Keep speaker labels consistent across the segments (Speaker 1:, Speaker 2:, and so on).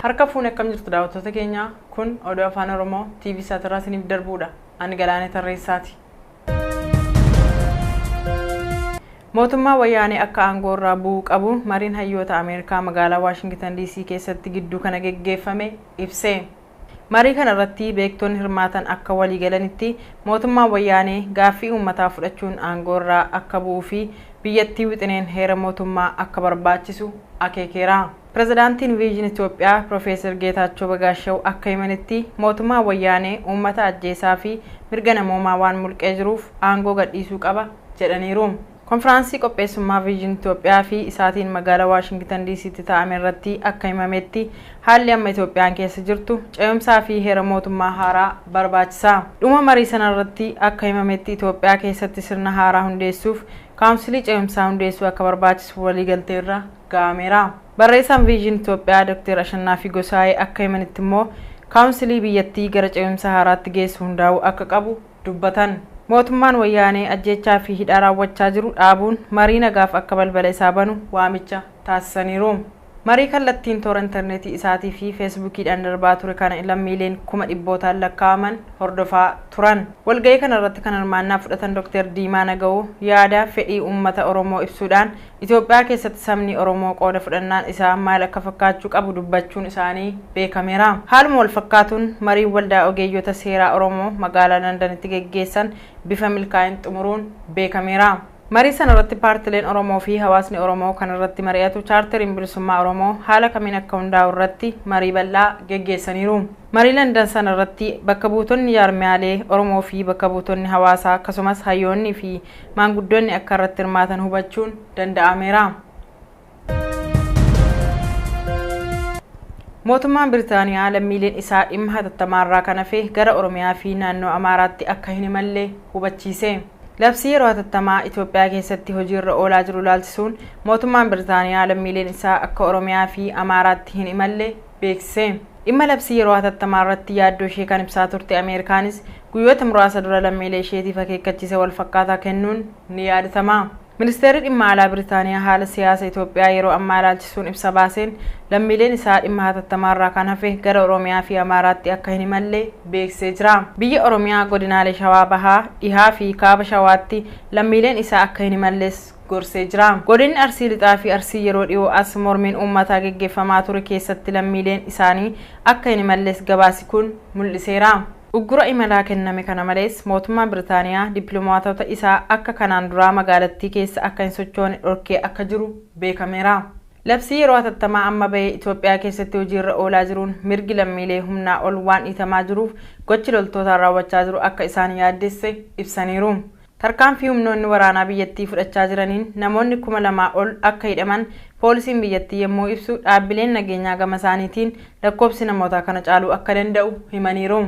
Speaker 1: Harka fuunee akkam jirtu daawwattoota keenya kun oduu afaan oromoo TV saatirraa isiniif darbuudha. Ani Galaanee Tarreessaati. Mootummaa wayyaanee akka aangoo irraa bu'uu qabu mariin hayyoota Ameerikaa magaalaa Waashingitan DC keessatti gidduu kana geggeeffame ibse. Marii kana irratti beektonni hirmaatan akka walii galanitti mootummaan Wayyaanee gaaffii uummataa fudhachuun aangoo irraa akka bu'uu fi biyyattii wixineen heera mootummaa akka barbaachisu akeekeera. Pirezidaantiin Viizhin Itoophiyaa Pirofeesar Geetaachoo Bagaashaw akka himanitti mootummaan Wayyaanee uummata ajjeesaa fi mirga namoomaa waan mulqee jiruuf aangoo gadhiisuu qaba jedhaniiru. Konfiraansii qopheessummaa Vision Itoophiyaa fi isaatiin magaala Waashingitan DCtti taa'ame irratti akka himametti haalli amma Itoophiyaan keessa jirtu ce'umsaa fi heera mootummaa haaraa barbaachisa. Dhuma marii sana irratti akka himametti Itoophiyaa keessatti sirna haaraa hundeessuuf kaawunsilii ce'umsaa hundeessuu akka barbaachisu waliigaltee irra ga'ameera. Barreessaan Vision Itoophiyaa Doktar Ashannaafii Gosaayee akka himanitti immoo kaawunsilii biyyattii gara ce'umsa haaraatti geessu hundaa'uu akka qabu, dubbatan. Mootummaan Wayyaanee ajjeechaa fi hidhaa raawwachaa jiru dhaabuun marii nagaaf akka balbala isaa banu waamicha taasisaniiru. Marii kallattiin toora interneetii isaatii fi Feesbuukiidhaan darbaa ture kana lammiileen kuma dhibbootaan lakkaa'aman hordofaa turan. Walga'ii kanarratti kan hirmaannaa fudhatan Doktar Diimaa Nagawoo yaada fedhii uummata Oromoo ibsuudhaan Itoophiyaa keessatti sabni Oromoo qooda fudhannaan isaa maal akka fakkaachuu qabu dubbachuun isaanii beekameera. Haaluma walfakkaatuun, mariin Waldaa Ogeeyyota Seeraa Oromoo magaalaa Landanitti geggeessan bifa milkaa'een xumuruun beekameera. Marii sanarratti paartileen Oromoofi hawaasni Oromoo kan irratti mari'atu Chaarteriin Bilisummaa Oromoo haala kamiin akka hundaa'u irratti marii bal'aa geggeessaniiru. Marii Landan sanarratti bakka buutonni jaarmiyaalee Oromoofi bakka buutonni hawaasaa akkasumas hayyoonniifi maanguddoonni akka irratti hirmaatan hubachuun danda'ameera. Mootummaan Biritaaniyaa lammiileen isaa dhimma hatattamaarraa kan hafe gara Oromiyaa fi naannoo Amaaraatti akka hin imalle hubachiise. Labsii yeroo hatattamaa Itoophiyaa keessatti hojiirra oolaa jiru ilaalchisuun mootummaan Biritaaniyaa lammiileen isaa akka Oromiyaa fi Amaaraatti hin imalle beeksise. Dhimma labsii yeroo hatattamaa irratti yaaddoo ishee kan ibsaa turte Ameerikaanis guyyoota muraasa dura lammiilee isheetiif akeekkachiisa wal fakkaataa kennuun ni yaadatama. Ministeerri Dhimma Alaa Biritaaniyaa haala siyaasa Itoophiyaa yeroo ammaa ilaalchisuun ibsa baaseen, lammiileen isaa dhimma hatattamaa irraa kan hafe gara Oromiyaa fi Amaaraatti akka hin imalle beeksisee jira. Biyya Oromiyaa godinaalee Shawaa Bahaa, Dhihaa fi Kaaba Shawaatti lammiileen isaa akka hin imalles gorsee jira. Godinni Arsii Lixaa fi Arsii yeroo dhiyoo as mormiin uummataa geggeeffamaa ture keessatti lammiileen isaanii akka hin imalles gabaasi kun mul'iseera. Uggura imalaa kenname kana malees mootummaan Biritaaniyaa dippiloomaatota isaa akka kanaan duraa magaalattii keessa akka hin sochoone dhorkee akka jiru beekameera. Labsii yeroo hatattamaa amma bahe Itoophiyaa keessatti hojiirra oolaa jiruun mirgi lammiilee humnaa ol waan dhiitamaa jiruuf gochi loltootaan raawwachaa jiru akka isaan yaaddesse ibsaniiru. Tarkaanfii humnoonni waraanaa biyyattii fudhachaa jiraniin namoonni kuma lamaa ol akka hidhaman poolisiin biyyattii yemmuu ibsu, dhaabbileen nageenyaa gamasaaniitiin lakkoobsi namootaa kana caaluu akka danda'u himaniiru.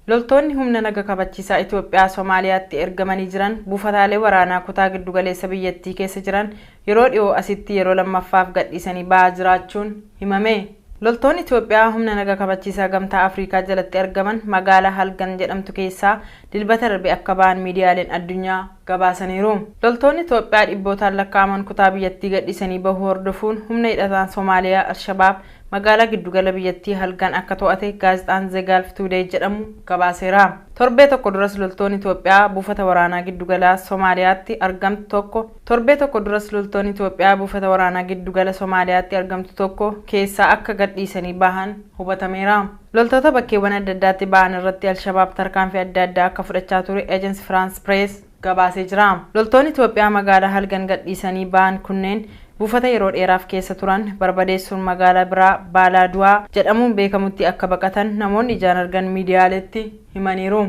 Speaker 1: Loltoonni humna naga kabachiisaa Itoophiyaa Somaaliyaatti ergamanii jiran buufataalee waraanaa kutaa giddugaleessa biyyattii keessa jiran yeroo dhihoo asitti yeroo lammaffaaf gadhiisanii ba'aa jiraachuun himame. Loltoonni Itoophiyaa humna naga kabachiisaa Gamtaa Afriikaa jalatti argaman magaala Halgan jedhamtu keessaa Dilbata darbe akka ba'an miidiyaaleen addunyaa gabaasaniiru. Loltoonni Itoophiyaa dhibbootaan lakkaa'aman kutaa biyyattii gadhiisanii bahuu hordofuun humna hidhataan Somaaliyaa Alshabaab magaalaa giddu gala biyyattii Halgan akka to'ate gaazexaan Ze Gaalf Tuudeey jedhamu gabaaseera. Torbee tokko duras loltoonni Itoophiyaa buufata waraanaa giddu galaa Somaaliyaatti argamtu tokko Torbee tokko duras loltoonni Itoophiyaa buufata waraanaa giddu gala Somaaliyaatti argamtu tokko keessaa akka gad dhiisanii bahan hubatameera. Loltoota bakkeewwan adda addaatti bahan irratti Alshabaab tarkaanfii adda addaa akka fudhachaa ture Agence France Press gabaasee jira. Loltoonni Itoophiyaa magaalaa halgan gad dhiisanii bahan kunneen buufata yeroo dheeraaf keessa turan barbadeessuun magaalaa biraa Baalaa Du'aa jedhamuun beekamutti akka baqatan namoonni ijaan argan miidiyaaleetti himaniiru.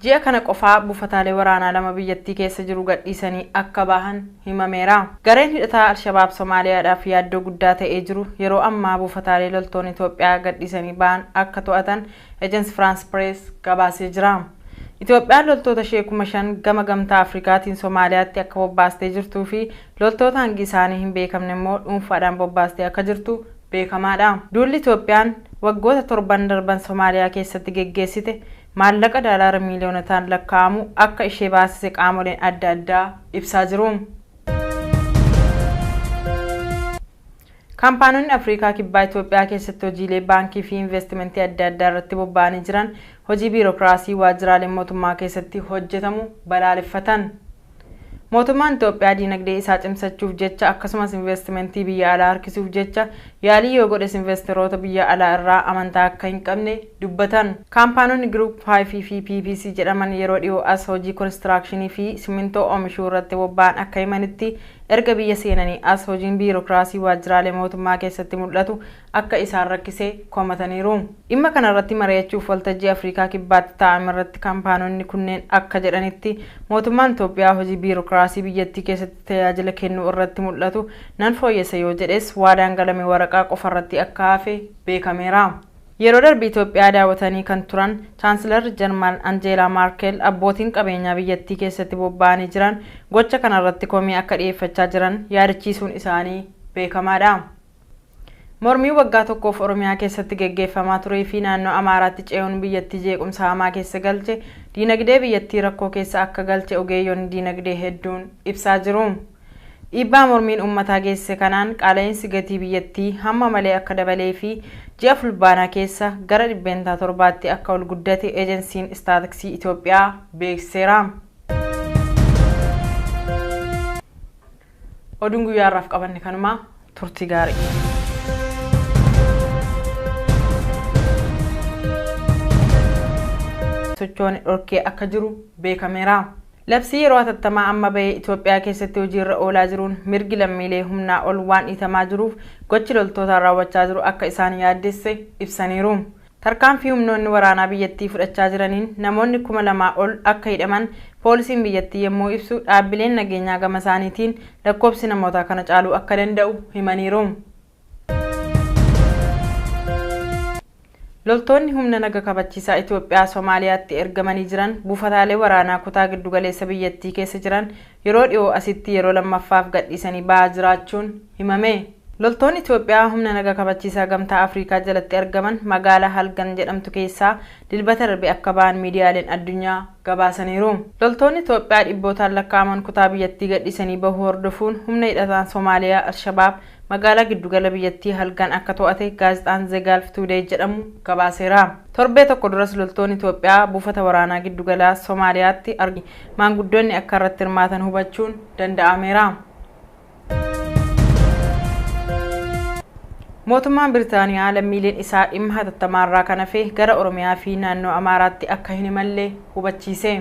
Speaker 1: Ji'a kana qofaa buufataalee waraanaa lama biyyattii keessa jiru gadhiisanii akka bahan himameera. Gareen hidhataa Alshabaab Somaaliyaadhaaf yaaddoo guddaa ta'ee jiru yeroo ammaa buufataalee loltoonni Itoophiyaa gadhiisanii bahan akka to'atan Agence France Presse gabaasee jira. Itoophiyaan loltoota ishee kuma shan gama Gamtaa Afrikaatiin Somaaliyaatti akka bobbaastee jirtuu fi loltoota hangi isaanii hin beekamne immoo dhuunfaadhaan bobbaastee akka jirtu beekamaadha. Duulli Itoophiyaan waggoota torban darban Somaaliyaa keessatti geggeessite maallaqa daalaara miiliyoonotaan lakkaa'amu akka ishee baasise qaamoleen adda addaa ibsaa jiru. Kaampaanonni Afriikaa Kibbaa Itoophiyaa keessatti hojiilee baankii fi investimentii adda addaa irratti bobba'anii jiran hojii biirokiraasii waajjiraalee mootummaa keessatti hojjetamu balaaleffatan. Mootummaan Itoophiyaa diinagdee isaa cimsachuuf jecha akkasumas inveestimentii biyya alaa harkisuuf jecha yaalii yoo godhes investeroota biyya alaa irraa amantaa akka hin qabne dubbatan. Kaampaanonni Group Five fi PVC jedhaman yeroo dhiyoo as hojii konistiraakshinii fi simmintoo oomishuu irratti bobba'an akka himanitti, erga biyya seenanii as hojiin biirokraasii waajjiraalee mootummaa keessatti mul'atu akka isaan rakkise komataniiru. Dhimma kanarratti mari'achuuf waltajjii Afriikaa Kibbaatti taa'amerratti kampaanonni kunneen akka jedhanitti, mootummaan Itoophiyaa hojii biirokiraasii biyyattii keessatti tajaajila kennuu irratti mul'atu nan fooyyessa yoo jedhes waadaan galame waraqaa qofarratti akka hafe beekameera. Yeroo darbe Itoophiyaa daawwatanii kan turan Chaansilarri Jarman Anjeelaa Maarkel abbootiin qabeenyaa biyyattii keessatti bobba'anii jiran gocha kanarratti komii akka dhiyeeffachaa jiran yaadachiisuun isaanii beekamaadha. Mormii waggaa tokkoof Oromiyaa keessatti geggeeffamaa turee fi naannoo Amaaraatti ce'uun biyyattii jeequmsa hamaa keessa galche, diinagdee biyyattii rakkoo keessa akka galche ogeeyyonni diinagdee hedduun ibsaa jiru. Dhiibbaa mormiin uummataa geessise kanaan qaala'iinsi gatii biyyattii hamma malee akka dabalee fi ji'a Fulbaanaa keessa gara dhibbeentaa torbaatti akka ol guddate Ejensiin Istaatiksii Itoophiyaa beeksiseera. Oduun guyyaa har'aaf qabanne kanuma turtii gaarii. socho'an dhorkee akka jiru beekameera. Labsii yeroo hatattamaa amma bahee Itoophiyaa keessatti hojiirra oolaa jiruun mirgi lammiilee humnaa ol waan dhiitamaa jiruuf gochi loltootaan raawwachaa jiru akka isaan yaaddesse ibsaniiru. Tarkaanfii humnoonni waraanaa biyyattii fudhachaa jiraniin namoonni kuma lamaa ol akka hidhaman poolisiin biyyattii yemmuu ibsu, dhaabbileen nageenyaa gamasaaniitiin lakkoofsi namootaa kana caaluu akka danda'u himaniiru. Loltoonni humna naga kabachiisaa Itoophiyaa Somaaliyaatti ergamanii jiran buufataalee waraanaa kutaa giddugaleessa biyyattii keessa jiran yeroo dhihoo asitti yeroo lammaffaaf gadhiisanii ba'aa jiraachuun himame. Loltoonni Itoophiyaa humna naga kabachiisaa Gamtaa Afriikaa jalatti argaman magaala Halgan jedhamtu keessaa Dilbata darbe akka ba'an miidiyaaleen addunyaa gabaasaniiru. Loltoonni Itoophiyaa dhibbootaan lakkaa'aman kutaa biyyattii gadhiisanii bahuu hordofuun humna hidhataan Somaaliyaa Alshabaab magaalaa giddugala biyyattii halgan akka to'ate gaazexaan Ze Gaalf Tuudeey jedhamu gabaaseera. Torbee tokko duras loltoonni Itoophiyaa buufata waraanaa giddugala Somaaliyaatti argamu maanguddoonni akka irratti hirmaatan hubachuun danda'ameera. Mootummaan Biritaaniyaa lammiileen isaa dhimma hatattamaarraa kan hafe gara Oromiyaa fi naannoo Amaaraatti akka hin imalle hubachiise.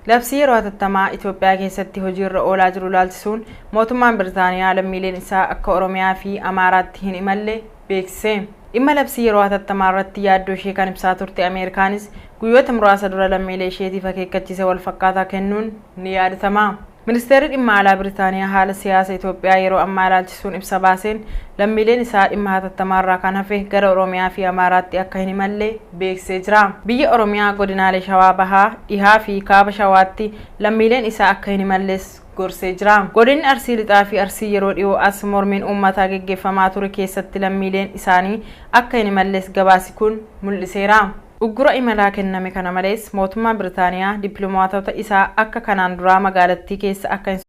Speaker 1: Labsii yeroo hatattamaa Itoophiyaa keessatti hojiirra oolaa jiru ilaalchisuun mootummaan Biritaaniyaa lammiileen isaa akka Oromiyaa fi Amaaraatti hin imalle beeksise. Dhimma labsii yeroo hatattamaa irratti yaaddoo ishee kan ibsaa turte Ameerikaanis guyyoota muraasa dura lammiilee isheetiif akeekkachiisa walfakkaataa kennuun ni yaadatama. Ministeerri Dhimma Alaa Biritaaniyaa haala siyaasa Itoophiyaa yeroo ammaa ilaalchisuun ibsa baaseen, lammiileen isaa dhimma hatattamaarraa kan hafe gara Oromiyaa fi Amaaraatti akka hin imalle beeksisee jira. Biyya Oromiyaa godinaalee Shawaa Bahaa, Dhihaa fi Kaaba Shawaatti lammiileen isaa akka hin imalles gorsee jira. Godinni Arsii Lixaa fi Arsii yeroo dhiyoo as mormiin uummataa geggeeffamaa ture keessatti lammiileen isaanii akka hin imalles gabaasi kun mul'iseera. Uggura imalaa kenname kana malees mootummaan Biritaaniyaa dippilomaatota isaa akka kanaan duraa magaalattii keessa akka hin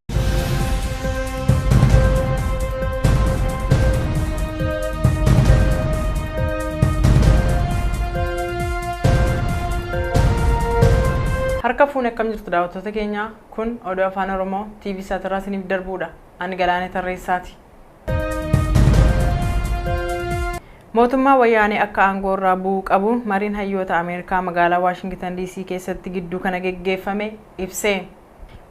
Speaker 1: Harka fuune akkam jirtu daawwattoota keenya kun oduu afaan oromoo TV saatirraa isiniif darbuudha. Ani Galaanee Tarreessaati. Mootummaa Wayyaanee akka aangoorraa bu'u qabu mariin hayyoota Ameerikaa magaalaa Waashingitan DC keessatti gidduu kana geggeeffame ibse.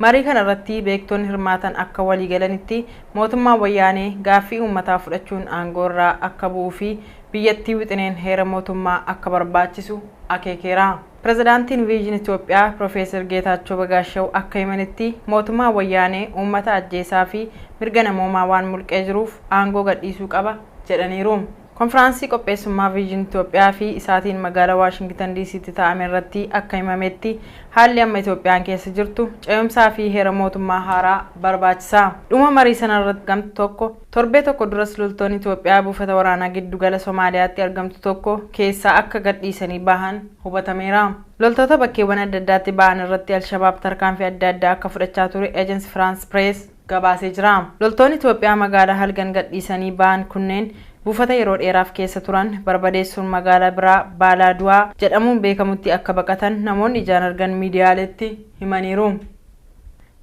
Speaker 1: Marii kana irratti beektonni hirmaatan akka walii galanitti mootummaan Wayyaanee gaaffii uummataa fudhachuun aangoo irraa akka bu'uu fi biyyattii wixineen heera mootummaa akka barbaachisu akeekeera. Pirezidaantiin Viizhin Itoophiyaa Pirofeesar Geetaachoo Bagaashaw akka himanitti, mootummaan Wayyaanee uummata ajjeesaa fi mirga namoomaa waan mulqee jiruuf aangoo gadhiisuu qaba jedhaniiru. Konfiraansii qopheessummaa Viizhin Itoophiyaa fi isaatiin magaala Waashingitan Diisiitti taa'ame irratti akka himametti, haalli amma Itoophiyaan keessa jirtu ce'umsaa fi heera mootummaa haaraa barbaachisa. Dhuma marii sanarratti gam tokko. Torbee tokko duras loltoonni Itoophiyaa buufata waraanaa giddu gala Somaaliyaatti argamtu tokko keessaa akka gad dhiisanii bahan hubatameera. Loltoota bakkeewwan adda addaatti bahan irratti Alshabaab tarkaanfii adda addaa akka fudhachaa ture Agence France Press gabaasee jira. Loltoonni Itoophiyaa magaalaa halgan gad dhiisanii bahan kunneen buufata yeroo dheeraaf keessa turan barbadeessuun magaalaa biraa Baalaa Du'aa jedhamuun beekamutti akka baqatan namoonni ijaan argan miidiyaaleetti himaniiru.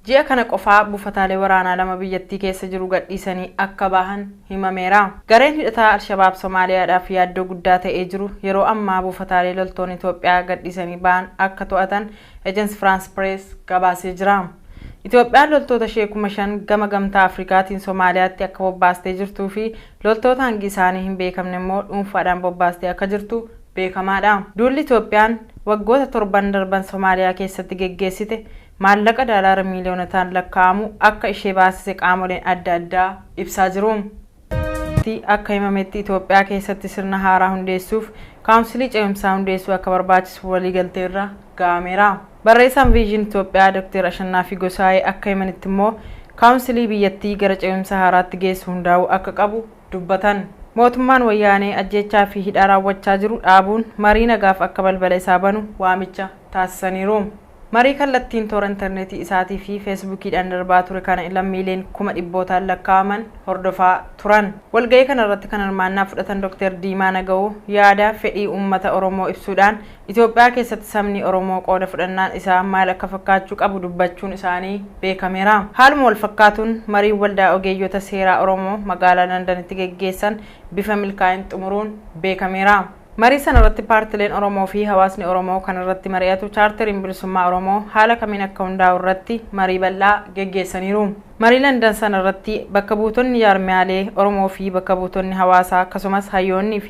Speaker 1: Ji'a kana qofaa buufataalee waraanaa lama biyyattii keessa jiru gadhiisanii akka bahan himameera. Gareen hidhataa Alshabaab Somaaliyaadhaaf yaaddoo guddaa ta'ee jiru yeroo ammaa buufataalee loltoonni Itoophiyaa gadhiisanii bahan akka to'atan Agence France Presse gabaasee jira. Itoophiyaan loltoota ishee kuma shan gama Gamtaa Afrikaatiin Somaaliyaatti akka bobbaastee jirtuu fi loltoota hangi isaanii hin beekamne immoo dhuunfaadhaan bobbaastee akka jirtu beekamaadha. Duulli Itoophiyaan waggoota torban darban Somaaliyaa keessatti geggeessite maallaqa daalaara miiliyoonotaan lakkaa'amu akka ishee baasise qaamoleen adda addaa ibsaa jiru. tti akka himametti Itoophiyaa keessatti sirna haaraa hundeessuuf Kaawunsilii Cehumsaa hundeessuu akka barbaachisu waliigaltee irra ga'ameera. Barreessaan Viizhin Itoophiyaa Dokteer Ashannaafii Gosaayee akka himanitti immoo Kaawunsilii biyyattii gara cehumsa haaraatti geessu hundaa'uu akka qabu dubbatan. Mootummaan Wayyaanee ajjeechaa fi hidhaa raawwachaa jiru dhaabuun marii nagaaf akka balbala isaa banu waamicha taasisaniiru. Marii kallattiin toora interneetii isaatii fi Feesbuukiidhaan darbaa ture kana lammiileen kuma dhibbootaan lakkaa'aman hordofaa turan. Walga'ii kana irratti kan hirmaannaa fudhatan Doktar Diimaa Nagawuu yaada fedhii uummata Oromoo ibsuudhaan Itoophiyaa keessatti sabni Oromoo qooda fudhannaan isaa maal akka fakkaachuu qabu dubbachuun isaanii beekameera. Haaluma wal fakkaatuun mariin Waldaa Ogeeyyota Seeraa Oromoo magaalaa Landanitti geggeessan bifa milkaa'een xumuruun beekameera. Marii sana irratti paartileen Oromoo fi hawaasni Oromoo kan irratti mari'atu Chaarteriin Bilisummaa Oromoo haala kamiin akka hundaa'u irratti marii bal'aa geggeessaniiru. Marii Landan sana irratti bakka buutonni jaarmiyaalee Oromoo fi bakka buutonni hawaasaa akkasumas hayyoonni fi